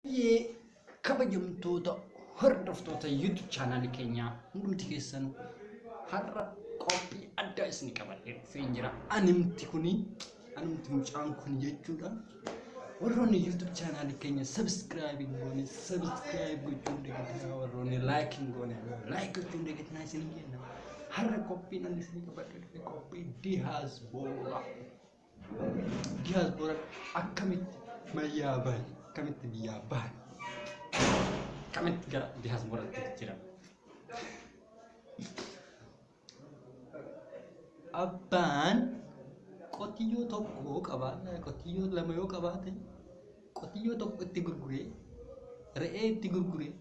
Baay'ee kabajamtoota hordoftoota YouTube chaanaali keenyaa hundumti keessan har'a qophii addaa isin qabadhee dhufeen jira. Animti kuni animti mucaan kun jechuudha. Warroonni YouTube chaanaali keenya subscribe hin goone subscribe gochuun dagatinaa warroonni like hin goone like gochuun dagatinaa isin jenna. Har'a qophiin ani isin qabadhee dhufe qophii dihaas boola. Diyaaspoora akkamitti mayyaa bahe akkamitti biyyaa bahe akkamitti gara diyaaspooraatti jijjiirame. Abbaan qotiyyoo tokko qabaannaa qotiyyoo lama yoo qabaate qotiyyoo tokko itti gurguree re'ee itti gurguree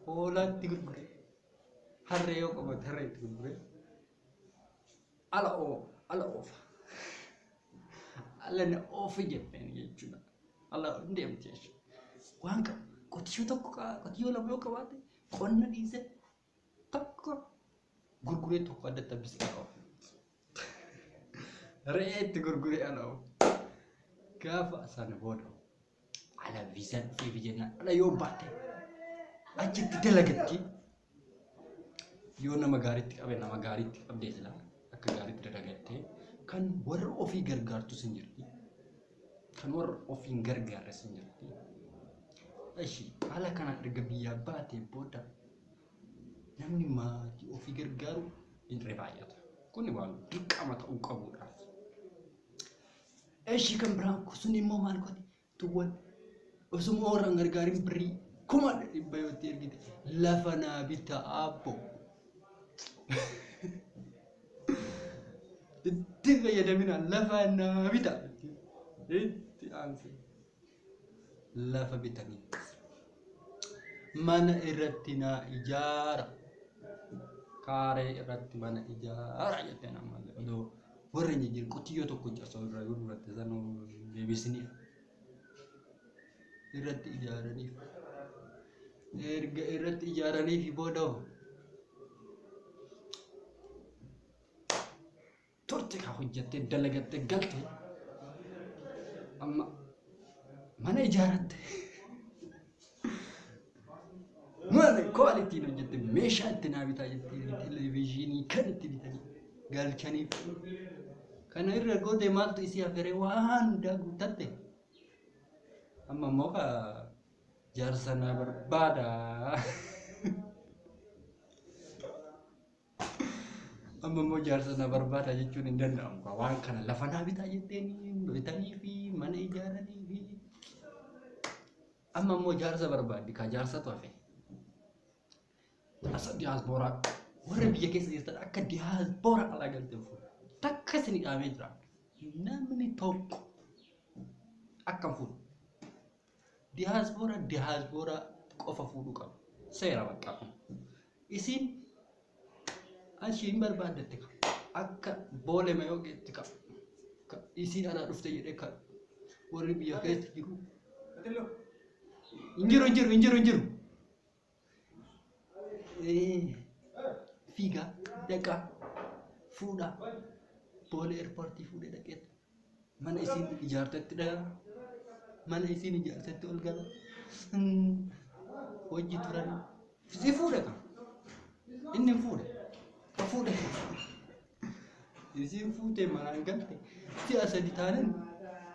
hoolaa itti gurguree harree yoo qabaate harree itti gurguree Ala oo ala oofa. Ala na oofi jenneen jechuudha. Ala hin deemti jechuudha. Waan qabu qotiyyoo tokko qaba qotiyyoo lama yoo qabaate qonna dhiisee tokko gurguree tokko adda tabbise ala oofa. Re'ee itti gurguree ala oofa. Gaafa sana booda ala viizaa dhufee biyya na ala yoo baate achitti dalagatti yoo nama gaariitti qabe nama gaariitti qabdee sila akka gaariitti dalagattee kan warra ofii gargaartu sin jirti kan warra ofii hin gargaarre sin jirti ishi haala kanaan erga biyyaa baatee booda namni maatii ofii gargaaru hin baay'ata kun waan dirqama ta'uu qabudha Eshi kan biraan kun sun immoo maal godhe tuwwan osuma warra hin gargaarin birrii kuma dhibba yoo itti ergite lafa naa bitta aabbo. Itti fayyadamina lafa naa bita itti aanse. lafa bitaniif mana irratti naa ijaara kaaree irratti mana ijaara jette nama odoo warra hin jijjiirre qotiyyoo tokko osoo irraa yoo duratte sanuu deebisiniif irratti ijaaraniif erga irratti ijaaraniif booda hoo turte ka hojjatte dalagatte galte amma mana ijaaratte mana koal ittiin hojjatte meeshaa itti naa bitaa jettee televezyiinii kan itti bitanii galchaniif kana irra gootee maaltu isii haferee waan hundaa guuttatte amma immoo ka jaarsa naa barbaada Amma immoo jaarsa na barbaada jechuun hin danda'amu. kaa. Waan kana lafa naa bitaa jetteen bitanii fi mana ijaaranii fi amma immoo jaarsa barbaaddi kaa jaarsatu hafe. Jaarsa diyaaspooraa warra biyya keessa jirtan akka diyaaspooraa alaa galtee fuudha. Takka isin dhaamee jira. Namni tokko akka fuudha. Diyaaspoora diyaaspoora qofa fuudhu qaba. Seera bakka kun. Isin ashiin barbaaddatte ka akka boole mayooqeetti ka ka isii anaa dhufte jedhee ka warri biyya keessa jiru. Hin jiru hin jiru hin jiru hin jiru. fiigaa dhaqaa fuudhaa boolee eerpoortii fuudhee dhaqee mana isiin ijaartetti dhagaa mana isiin ijaartetti ol gala hojii turan si fuudha ka inni hin fuudha ka fuudha Isiin fuutee manaan galte si'a sadi taanan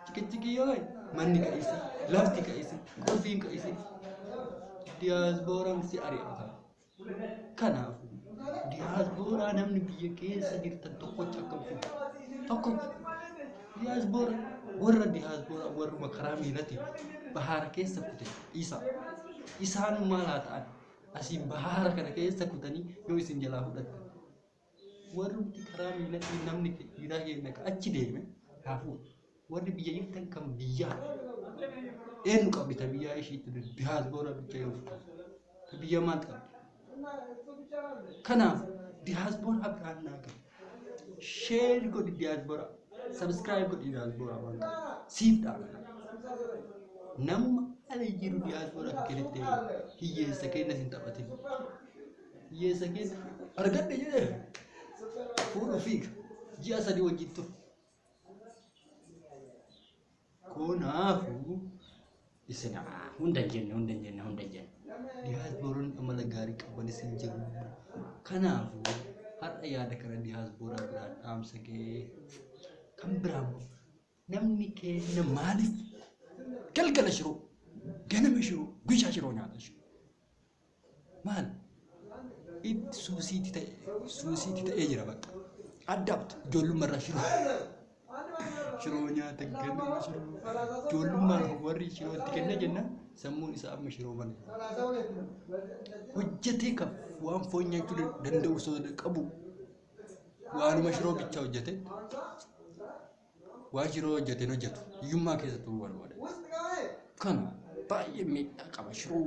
ciqiciqii yoo ta'e manni qa'ise, lafti qa'ise, qulfiin qa'ise. Diyaasbooraan si ari'ata. Kanaaf diyaaspooraa namni biyya keessa jirtan tokkocha akka fuudhu. Tokkocha. Diyaasboora warra diyaaspooraa warruma karaa miilatiin bahaara keessa kute isa. Isaan maal haa ta'an? Asiin bahaara kana keessa kutanii yoo isin jalaa fudhatan. Warrumti karaa miilatiin namni fi dhiiraa keenya ka achi deeme haa fuudhu. Warri biyya jirtan kan biyyaa eenyu qabdi ta biyyaa ishiitti duri diyaasboora bicha yoo fudhan. Ta biyya maal qabdi? Kanaaf diyaasbooraa biraan naa gahe. Sheer godhi diyaasbooraa. Sabskiraayib godhi diyaasbooraa waan qabu. Siif dhaabata. Namuma ala jiru diyaasbooraa keessatti hiyyeessa keenya hin taphatin. hiyyeessa keessa argadhe jedhee fuudhu fiiga ji'a sadii wajjin ture. Kanaafuu isin hunda hin jenne hunda hin jenne hunda hin jenne diyaaspooronni amala gaarii qaban isin jiru. Kanaafuu har'a yaada kana diyaaspooraa biraan dhaamsa ga'ee kan biraa immoo namni keenya maaliif galgala shiroo ganama shiroo guyyaa shiroo nyaata shiroo. maal it suusiitti ta'e suusiitti ta'ee jira bakka addapt ijoollummaa irraa shiroo shiroo nyaata ganama shiroo ijoollummaan warri shiroo itti kenna jenna sammuun isaa amma shiroo malee hojjetee kan waan foon nyaachuu da- danda'u osoo qabu waanuma shiroo bichaa hojjete Waa shiroo hojjeteen hojjetu hiyyummaa keessa turuu barbaada. Kan baay'ee miidhaa qaba shiroo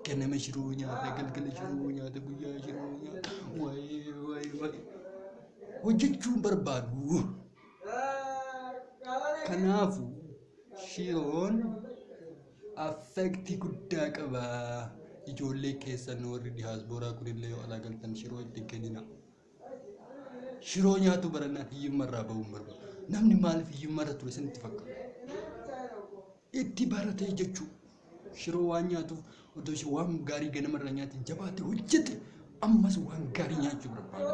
ganama shiroo nyaata galgala shiroo nyaata guyyaa shiroo nyaata waayee waayee waayee hojjechuun barbaadu. Kanaafu shiroon affektii guddaa qaba. Ijoollee keessan warri diyaaspooraa kunillee yoo alaa galtan shiroo itti hin kenninaa. Shiroo nyaatu barannaan hiyyummaa irraa bahuun barbaada. Namni maaliif hiyyummaa irra ture isinitti fakkaata? Itti baratee jechuu. Shiroo waan nyaatuuf otoo ishee waan gaarii ganama irraa nyaate jabaatee hojjete ammas waan gaarii nyaachuu barbaada.